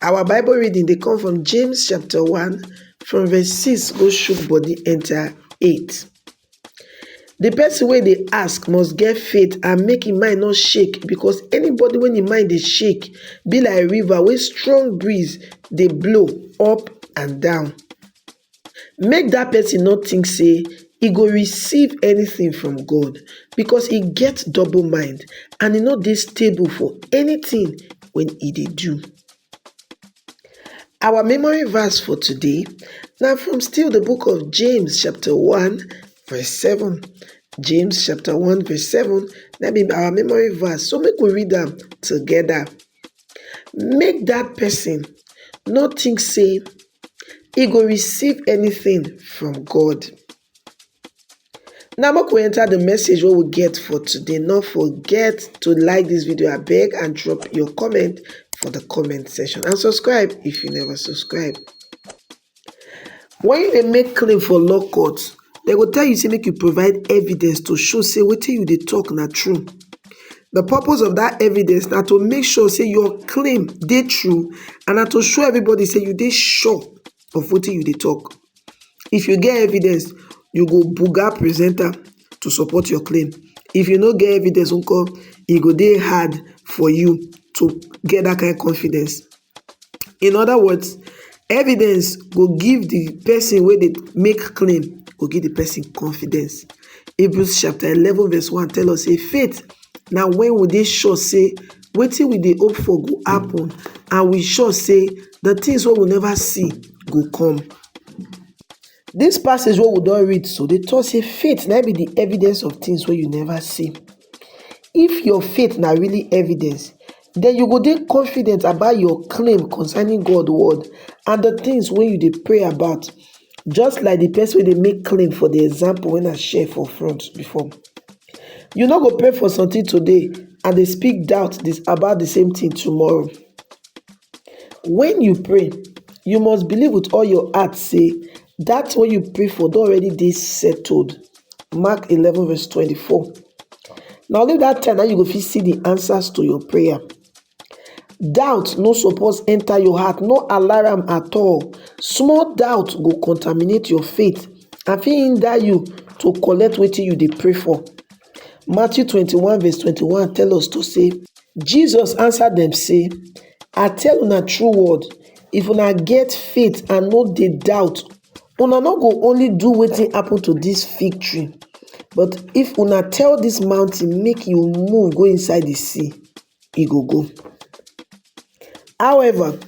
Our bible reading dey come from James chapter one from verse six go shook body enter eight. The person wey dey ask must get faith and make im mind no shake because anybody wey im mind dey shake be like river wey strong breeze dey blow up and down. make dat pesin no tink sey e go receive anytin from God, because e get double mind and e no dey stable for anytin wey e dey do. Our memory verse for today na from still di book of James chapter one verse seven, James chapter one verse seven na be our memory verse so make we read am togeda. Make dat pesin no tink sey e go receive anything from God. Now make we enter the message wey we get for today. No forget to like this video I beg and drop your comment for the comment section and subscribe if you never subscribe. When you make claim for law court, dem go tell you say make you provide evidence to show say wetin you dey talk na true the purpose of that evidence na to make sure say your claim dey true and na to show everybody say you dey sure of wetin you dey talk if you get evidence you go buga present am to support your claim if you no get evidence nko e go dey hard for you to get that kind confidence in oda words evidence go give di pesin wey dey make claim go give di pesin confidence Hebrews chapter eleven verse one tell us sey faith na wen we dey sure sey wetin we dey hope for go happen and we sure sey di tins wey we neva see go come dis passage wey we don read so dey talk sey faith na im be di evidence of tins wey you neva see If your faith na really evidence, den you go dey confident about your claim concerning God word and the things wey you dey pray about just like the person wey dey make claim for the example wey I share for front before. You no go pray for something today and dey speak doubt about the same thing tomorrow. When you pray, you must believe with all your heart say that what you pray for don already dey settled. Mark 11 verse 24. Na only that time that you go fit see the answers to your prayer. Doubt no suppose enter your heart, no alarm at all. Small doubt go contaminate your faith and fit hinder you to collect wetin you dey pray for. Matthew 21 verse 21 tell us to say, Jesus answer dem say, I tell una true word, if una get faith and no dey doubt, una no go only do wetin happen to this fig tree, but if una tell this mountain make you move go inside the sea, e go go. However,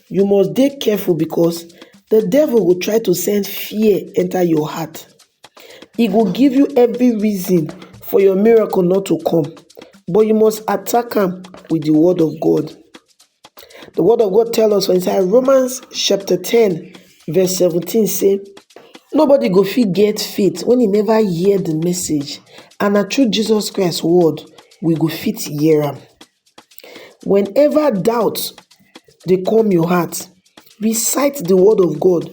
you must dey careful because the devil go try to send fear enter your heart. e go give you every reason for your miracle not to come but you must attack am with the word of God. The word of God tell us for inside Romans chapter 10 verse 17 say nobody go fit get faith when he never hear the message and na through Jesus Christ word we go fit hear am. Whenever doubt dey come your heart, recite the word of God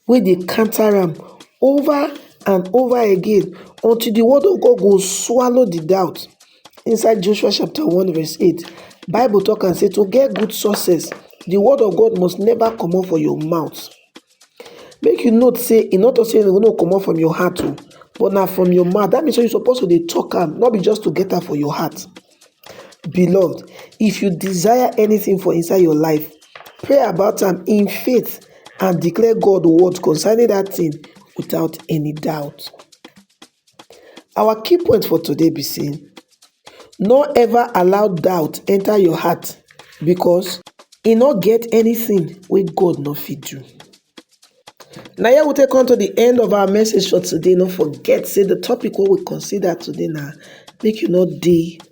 wey dey counter am over and over again until the word of God go swallow the doubt. Inside Joshua chapter 1 verse 8, Bible talk and say to get good success, the word of God must never comot for your mouth. Make you note sey e no talk sey make you comot from your heart oh, but na from your mouth. Dat mean sey you suppose to dey talk am, no be just to get am for your heart. Beloved, if you desire anything for inside your life, pray about am in faith and declare God word concerning dat thing without any doubt. Our key point for today be say no ever allow doubt enter your heart because e no get anything wey God no fit do. Na here we take come to the end of our message for today. No forget say the topic wey we consider today na make you no dey